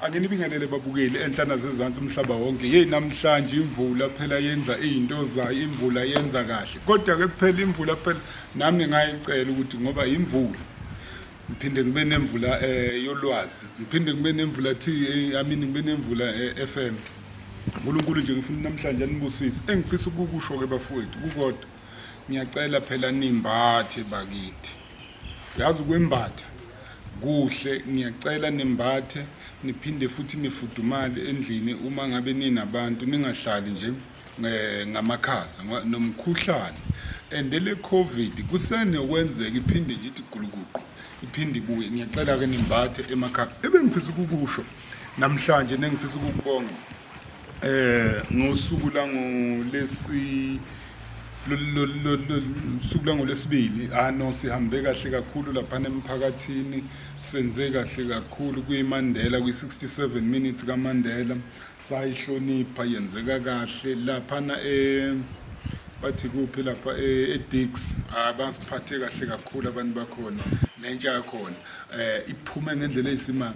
anginibingelele babukeli enhlana zezansi umhlaba wonke yeyi namhlanje imvula phela yenza iy'nto zayo imvula yenza kahle kodwa-ke kuphela imvula phela nami ngayicela ukuthi ngoba yimvula ngiphinde ngibe nemvula um eh, yolwazi ngiphinde ngibe nemvula t eh, amini ngibe nemvula eh, f m unkulunkulu nje ngifuna namhlanje anibusise engifisa ukukusho-ke bafowethu kukodwa ngiyacela phela nimbathe bakithi uyazi ukwembatha Kuhle, ngiyacela nimbathe niphinde futhi nifudumale endlini uma ngabe ninabantu ningahlali nje eh, ngamakhaza nomkhuhlane and le covid kusenokwenzeka iphinde nje ithi gulukuqu iphinde ibuye ngiyacela-ke nimbathe emakhaya ebengifisa ukukusho namhlanje nengifisa ukukubonga eh ngosuku langolesi suku langolesibili ah no sihambe kahle kakhulu lapha emphakathini senze kahle kakhulu kwiMandela kwi67 minutes kaMandela sayihlonipha yenzeka kahle lapha na eh bathi kuphi lapha eh, eDix ah, abasiphathe kahle kakhulu abantu bakhona nentsha yakhona eh iphume ngendlela eyisimanga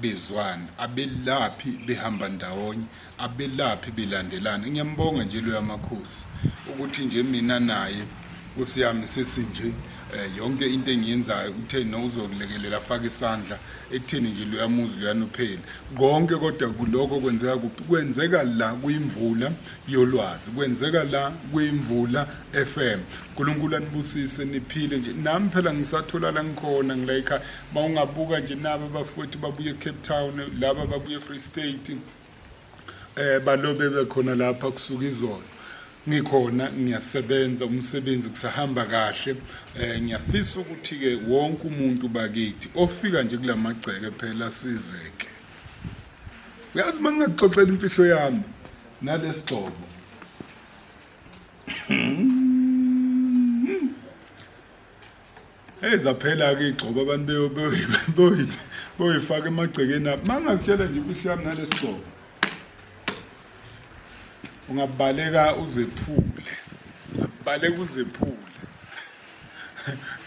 bezwana abelaphi behamba ndawonye abelaphi belandelana ngiyambonga nje loya makhosi ukuthi nje mina naye nkosi yami sesinje eh, yonke into engiyenzayo uthe no uzokulekelela afake isandla ekutheni nje luyamuzi luyanophela konke kodwa kuloko kwenzeka kuphi kwenzeka la kuyimvula yolwazi kwenzeka la kuyimvula FM uNkulunkulu anibusise niphile nje nami phela ngisathola la ngikhona ngilayikha uma ungabuka nje nabo abafowethu babuye ecape town laba babuye efree state um eh, balobe bekhona lapha kusuka izolo ngikhona ngiyasebenza umsebenzi kusahamba kahle eh ngiyafisa ukuthi ke wonke umuntu bakithi ofika nje kulamagceke phela sizeke uyazi mangingaxoxela imfihlo yami nalesigcobo Hey zaphela ke igcobo abantu beyo beyo boyifaka emagcekeni apho mangakutshela nje imfihlo yami nalesigcobo ungabaleka uzephule baleka uzephule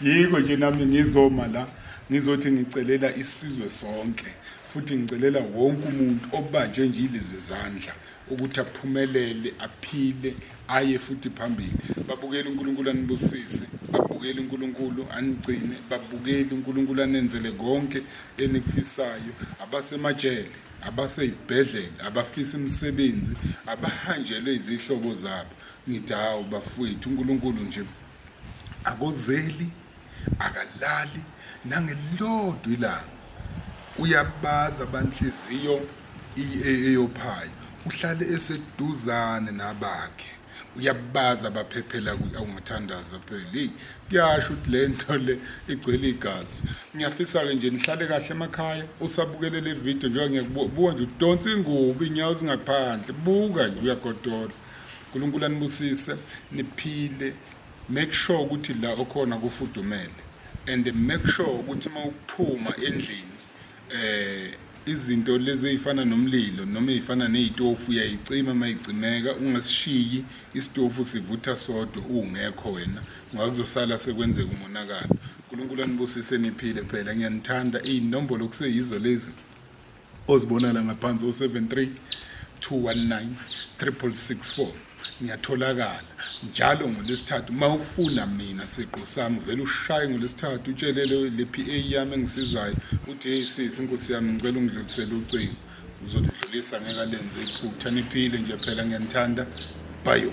yiko nje nami ngizoma la ngizothi ngicelela isizwe sonke futhi ngicelela wonke umuntu obanjwe nje ilezi zandla ukuthi aphumelele aphile aye futhi phambili babukele uNkulunkulu anibusise babukele uNkulunkulu anigcine babukele uNkulunkulu anenzele konke enikufisayo abasemajele abaseyibhedlela abafisa imisebenzi abahanjelwe izihlobo zabo ngithi hawu bafowethu uNkulunkulu nje akozeli akalali nangelilodwa ilanga uyabaza abanhliziyo eyophayo uhlale eseduzane nabakhe uyabaza abaphephela awumathandaza phela hey kuyasho ukuthi le nto le igcwele igazi ngiyafisa-ke nje nihlale kahle emakhaya usabukele le video njengoba ngiyakubuka nje udonsa ingubo iy'nyawo zingaphandle buka nje uyagodola uNkulunkulu anibusise niphile make sure ukuthi la okhona kufudumele and make sure ukuthi uma ukuphuma endlini eh izinto lezi ezifana nomlilo noma ezifana nezitofu uyayicima uma icimeka ungasishiyi isitofu sivutha sodwa ungekho wena ngoba kuzosala sekwenzeka umonakalo uNkulunkulu anibusise niphile phela ngiyanithanda inombolo kuseyizo lezi Ozibonala ngaphansi o-73 219 3664 ngiyatholakala njalo ngolesithathu uma ufuna mina siqu sami vele ushaye ngolesithathu utshelele le PA yami engisizayo uthi hey sisi inkosi yami ngicela ungidlulisele ucingo uzolidlulisa ngeke alenze iphutha niphile nje phela ngiyanithanda bayo